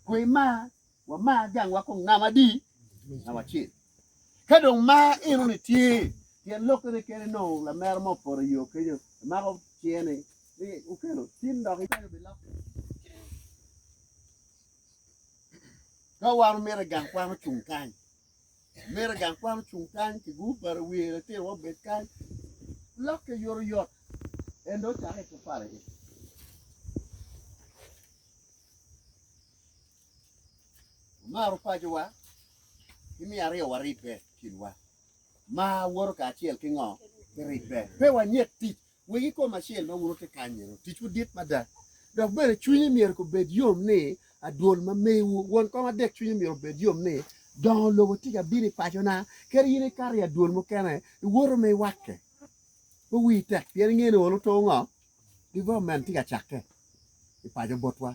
Kwe mar, wamar gangwa kong ngam adi ngam acel. Ka dong mar eno ni tye, tyen lok kene kene nongo lamera mo opoto i yo kenyo, imako ciye ni ni okelo tin dok ipenyo pi lok. Ka wan omito gang kwan ocung kany, En mito i gang kwan ocung kany ki gur bati i wiye litinowa obed kany. Lokke yotoyot en dong ocako ito pala iye. Wamaro pacowa ki miyo aryo waribbe i kinwa. Mar woto kacel ki ngo? Ki ribbe. Pe wanyet tic Wegi kom acel ma wun wutye kanyenu ticwu dit mada, dok bene cwinyu myero gubed yom ni adwol ma mewu. Won kom adek cwinye myero obed yom ni, 'Dongo lobo tika abino i pacona? Kadi in ikato i adwol mukene, iwoto ma iwakke. Pe wii tek pien ingeyo ni olo to ngo, development tye ka cakke i paco botwa.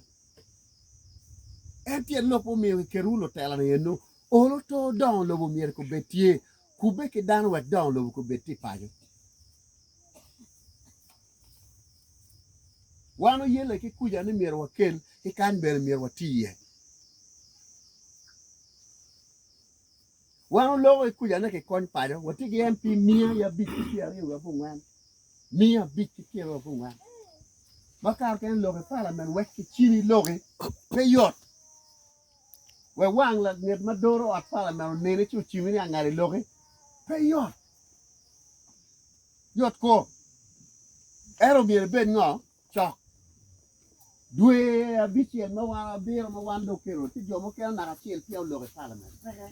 En tyen lok ma omiyo kiketowu lutela ni eno, olo to dongo lobo myero kobed tye, kubbe ki dano wek dongo lobo kobed tye i paco. Wan oyelle ki kuca ni myero wakel ki kany bene myero wati iye. Wan oloko ki kuca ni kikony paco, watye ki MP miya ki abic ki pyera aryo wiye abongwen, miya abic ki pyera aryo abongwen. Ma kare kene lok i palamen wek kicini loki pe yot. Wek wang langet ma doro ot palamen onene ci ocimi ni angada i loki pe yot. Yot kor. Ento omyero ibed ngo? Cok. Dwe abicel ma wan abiro ma wan dong kelo ci jo mukene naka acel peya olok i palamen. Peke.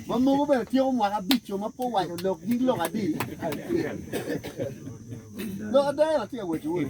Ma mogo bene tyeko mwaka abico ma pe owaco lok nying lok adi. Lok ada en atye ka waco-wu ni.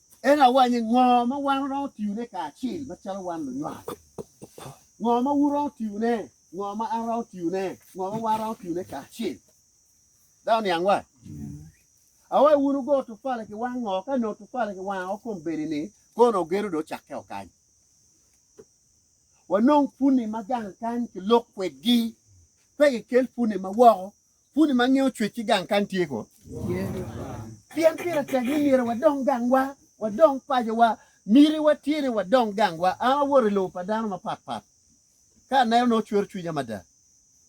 En awanyi ngo ma wan waromo tiyone kacel macalo wan lunywal? Ngo ma wun wuromo tiyone? Ngo ma an aromo tiyone? Ngo ma wan waromo tiyone kacel? Dok oniang wa. Awayi wun wugo tufali ki wang ngo ka nongo tufali ki wang o kom bedi ni kono ogedo do cakke o kany. Wanong puni ma gang kany ki lok kwedgi. Pe ki kel puni ma woko Puni ma nge ocwec ki gang kan tye ko? Pien pire tek ni myero wadong gangwa, wadong pacowa. Mitiwa tye ni wadong gangwa. An awoto i lobo pa dano mapat pat. Ka aneno nongo cwero cwinya mada.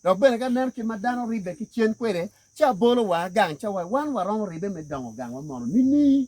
Dok bene ka aneno kit ma dano ribbe ki cen kwede, ci abolo wanga gang ca wa, wan waromo ribbe me dongo gangwa mono nining?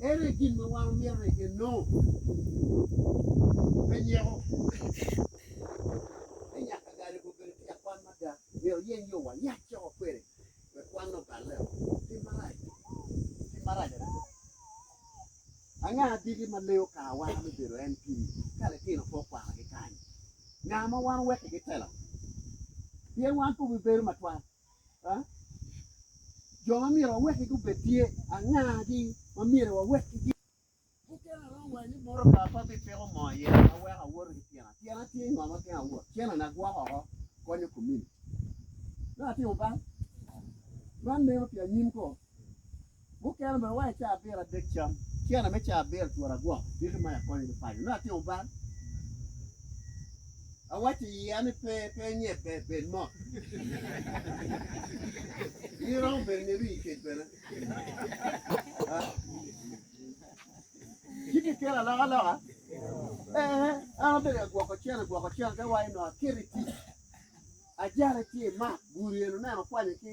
En aye gin ma wan omyero ni enong pe nyeko ni nyaka gari pe obedo tye akwan mada. Myero oyeny yo walac coko kwede wek kwanne oballe-o. Tim marac, tim marac adada. Anga adiki ma leyo kar wa me bedo en pi ka litino pe okwanogi kany? Nga ma wan owekkigi tela? Pien wan pe obibedo matwal. Jo ma myero wawekki gubed tye angagi ma myero wawekki gin? Mukene aromo waco ni motoka pe abipiko moo iye ma weko awoto ki tyena. Tyena tye ngo ma geng awot? Cennona gwoko oko konyo komuniti. Me atimo bal? Man meno pi anyim koo. Mukene bene wang i caa abiro adek cam tyena me caa abiro twero agwoko diki ma akonyo ni paco nongo atimo bal awaco i iya ni pe pe nye pe bed mot in romo bedo ni rii kec bene ci kikelo aloka loka ee an abedo ka gwoko cene gwoko cene te waco nongo aketi tic ajale ci imak gudi eno neno kwanyo ki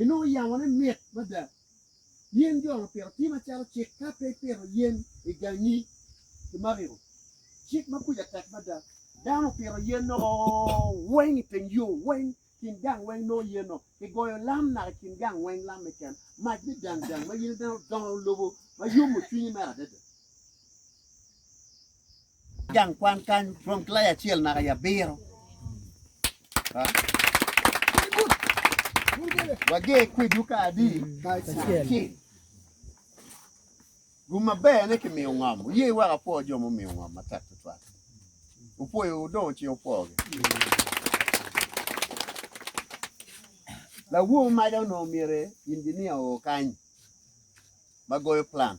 inongo yamone mit mada. Yen jo-ni opito ti macalo cik ka pe ipito yen i gangi i mariko. Cik ma kuca tek mada. Dano opito yen-no weng i teng yo weng, kin gang weng nongo yen-no. Kigoyo lam naka i kin gang weng, lam me ken, mac me dang dang ma yen-ne bene odongo lobo ma yomo cwinyi mere adada. Gang kwan kany rom ki laya acel naka i abiro. Wager kwedwu ka adi? Acel. Gum maber ne kimiyo ngom. Wuye wek apwo jo mumiyo ngom matek tutwal. Wupwoyo wudongo ci wupwogi. Lawo maja onongo myero injinia o kany ma goyo plan.